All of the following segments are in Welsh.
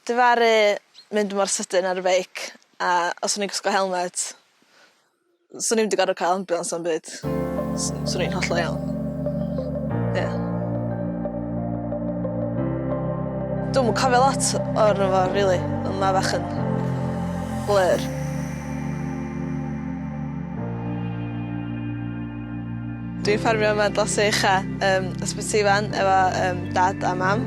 Difaru mynd mor sydyn ar y beic a os o'n i'n gwisgo helmet swn i'm 'di gorod ca'l ambiwlans na'm byd. S- swn i'n hollol iawn. Ie. Dwi'm yn cofio lot o'r efo rili on' ma' fach yn blur. Dwi'n ffarmio yma dros Sir Fynwy Ucha yym Ysbyty Ifan efo yym dad a mam.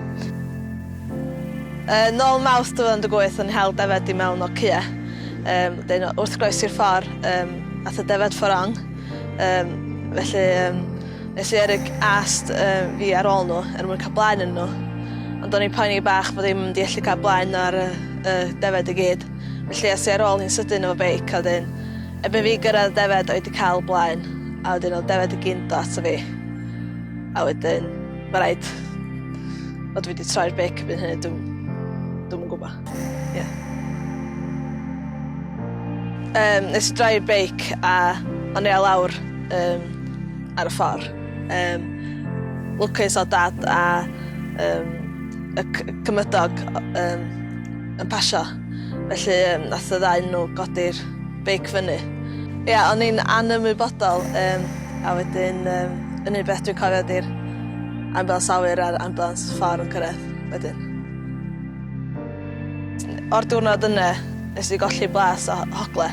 Yn ôl Mawrth 2018 o'n i'n hel defaid i mewn o cua. Yym wedyn wrth groesi'r ffor yym ath y defaid for wrong yym felly yym nes i yrru ast yym fi ar ôl n'w er mwyn ca'l blaen ynnyn n'w ond o'n i'n poeni bach bo' ddim mynd i ellu ca'l blaen ar y y defaid i gyd felly es i ar ôl hi'n sydyn efo beic a wedyn erbyn fi gyrradd y defaid o' i 'di ca'l blaen a wedyn o'dd defaid i gyn do' ato fi a wedyn Mae rhaid fod wedi troi'r bec erbyn hynny, dwi'n dwi yn gwybod. Yeah. Um, nes i droi'r beic a o'n i lawr um, ar y ffordd. Um, lwcus o dad a um, y cymydog um, yn pasio. Felly um, nath y ddau nhw godi'r beic fyny. Ia o'n i'n anymwybodol yym a wedyn yym yn un beth dwi'n cofio ydi'r ambulance awyr a'r ambulance ffordd yn cyrraedd wedyn. O'r diwrnod yna nes i golli blas o hogle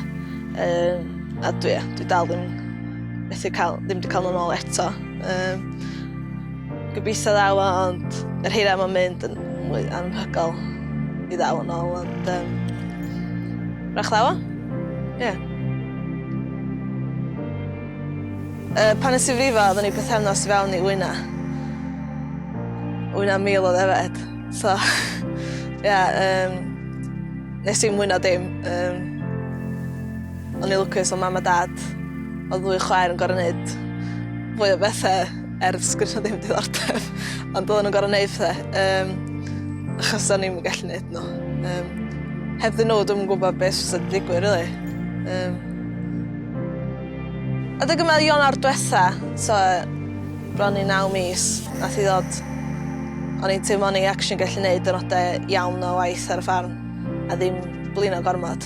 yym a dwi yy dwi dal ddim methu ca'l ddim 'di ca'l n'w nôl eto yym. Gobeithio ddaw o ond yr hira mae'n mynd yn mwy anhygoel i ddaw yn ôl ond um, rach ddaw o. Ie. Yeah. Uh, pan nes i frifo, oedden ni pethefnos i fewn i wyna. Wyna mil o ddefed. So, ie, yeah, um, nes i'n mwyna dim. Um, o'n i lwcus o mam a dad. Oedd fwy chwaer yn gorau wneud fwy o bethau Er sgen nhw ddim diddordeb, ond oedden nhw'n gorfod gwneud pethau, um, achos o'n i'n gallu gwneud nhw. Um, heb ddyn nhw, dwi'n gwybod beth sydd wedi digwydd, really. Um, a dwi'n gwybod Ionawr diwetha, so, bron i naw mis, nath i ddod, o'n i'n teimlo o'n i actually gallu gwneud dynodau iawn o waith ar y ffarm, a ddim blino gormod.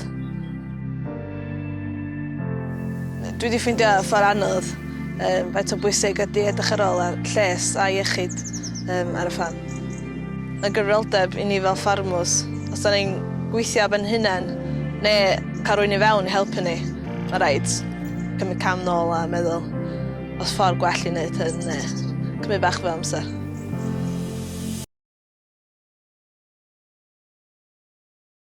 Dwi 'di ffeindio ffor anodd yym faint o bwysig ydi edrych ar ôl ar lles a iechyd yym ar y ffarm. Ma' gyfrifoldeb i ni fel ffarmwrs, os 'dan ni'n gweithio ar ben hunen ne' ca'l rywun i fewn i helpu ni, ma' raid cymryd cam nôl a meddwl o's ffor gwell i neud hyn ne' cymryd bach fwy o amser.